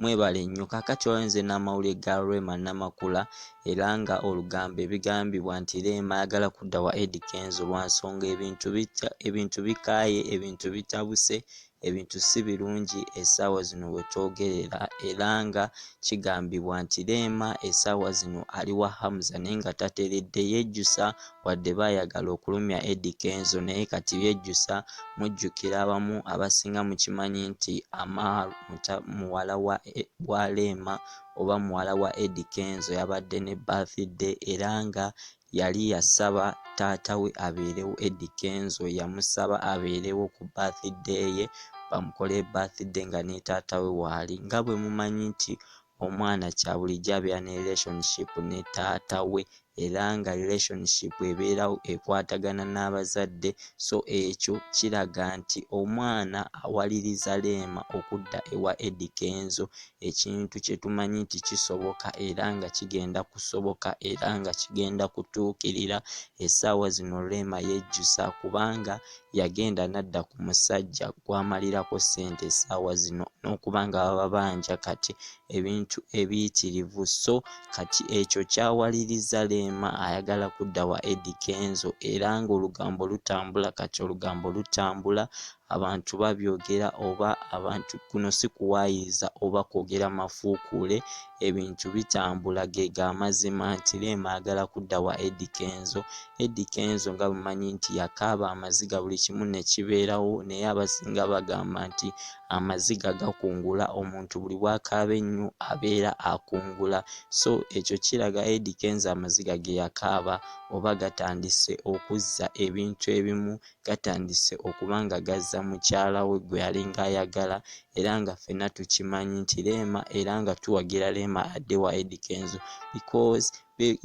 Mwebale nnyo. Kaakati olaba nze n'amawulire ga Rema Namakula era nga olugambo ebigambibwa nti Rema ayagala kudda wa Eddy Kenzo lwa nsonga ebintu bitya ebintu bikaaye ebintu bitabuse ebintu si birungi essaawa zino we twogerera era nga kigambibwa nti Rema essaawa zino ali wa Hamza naye nga tateredde yejjusa Wadde baayagala okulumya Eddy Kenzo naye kati yejjusa mujjukira abamu abasinga mukimanyi nti Amaal muwala wa Rema oba muwala wa Eddy Kenzo yabadde ne birthday era nga yali yasaba taata we abeerewo Eddy Kenzo yamusaba abeerewo ku birthday ye bamukole birthday nga ne taata we waali nga bwe mumanyi nti omwana kyabulijjo abeera ne relationship ne taata we era nga relationship ebeerawo ekwatagana n'abazadde so ekyo kiraga nti omwana awaliriza leema okudda ewa edi kenzo ekintu kye tumanyi nti kisoboka era nga kigenda kusoboka era nga kigenda kutuukirira essaawa zino leema yejjusa kubanga yagenda n'adda ku musajja gw'amalirako ssente essaawa zino n'okuba nga bababanja kati ebintu ebiyitirivu so kati ekyo kyawaliriza Leema ayagala kudda wa Eddy Kenzo era ng'olugambo lutambula kati olugambo lutambula abantu babyogera oba abantu kuno si kuwaayiriza oba kwogera mafuukuule ebintu bitambula gega amazima nti Rema ayagala kudda wa Eddy Kenzo Eddy Kenzo nga bumanyi nti yakaaba amaziga buli kimu ne kibeerawo naye abasinga bagamba nti amaziga gakungula omuntu buli bwakaaba ennyo abeera akungula so ekyo kiraga Eddy Kenzo amaziga ge yakaaba oba gatandise okuzza ebintu ebimu gatandise okuba nga gazza mukyala we gwe yalinga ayagala era nga ffenna tukimanyi nti leema era nga tuwagira leema adde wa edi kenzo because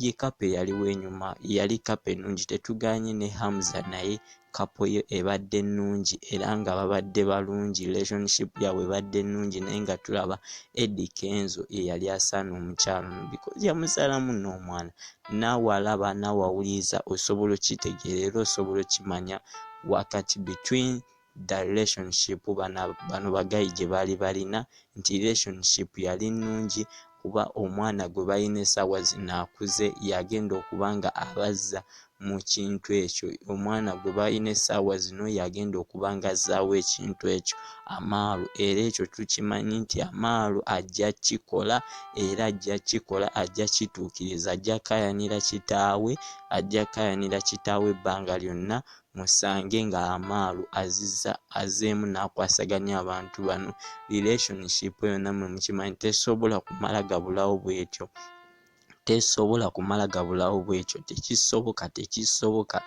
ye kapa eyali wenyuma yali kapa ennungi tetuganye ne hamza naye kapo ye ebadde ennungi era nga babadde balungi relationship yabwe ebadde ennungi naye nga tulaba edi kenzo eyali asaana omukyala ono because yamuzaalamu n'omwana naawe alaba naawe awuliriza osobola okitegeera era osobola okimanya wakati between the relationship bano bagayi gye baali balina nti relationship yali nnungi kuba omwana gwe balina esaawa zino akuze yagenda okuba nga abazza mu kintu ekyo omwana gwe balina esaawa zino yagenda okuba nga azzaawo ekintu ekyo amaalo era ekyo tukimanyi nti amaalo ajja kikola era ajja kikola ajja kituukiriza ajja kayanira kitaawe ajja kayanira kitaawe ebbanga lyonna musange nga amaalo aziza azeemu n'akwasaganya abantu bano relationship yonna mwe mukimanyi tesobola kumala gabulawo bwetyo tesobola kumala gabulawo bwekyo tekisoboka tekisoboka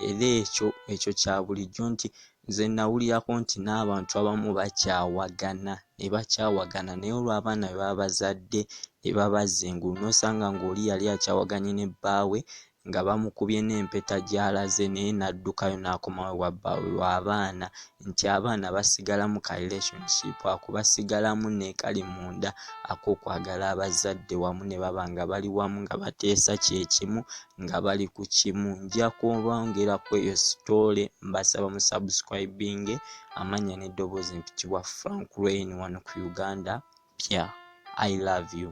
era ekyo ekyo kya bulijjo nti nze nawulirako nti n'abantu abamu bakyawagana ne bakyawagana naye olw'abaana bebaba bazadde ne babazza engulu n'osanga ng'oli yali akyawaganye ne bbaawe nga bamukubye n'empeta gy'alaze naye n'addukayo n'akomawo ewa bbaawe lw'abaana nti abaana basigalamu ka relationship ako basigalamu n'ekali munda ak'okwagala abazadde wamu ne baba nga bali wamu nga bateesa kye kimu nga bali ku kimu nja kubongera ku eyo sitoole mbasaba mu subscribinge amannya n'eddoboozi mpitibwa frank rain wano ku uganda pya i love you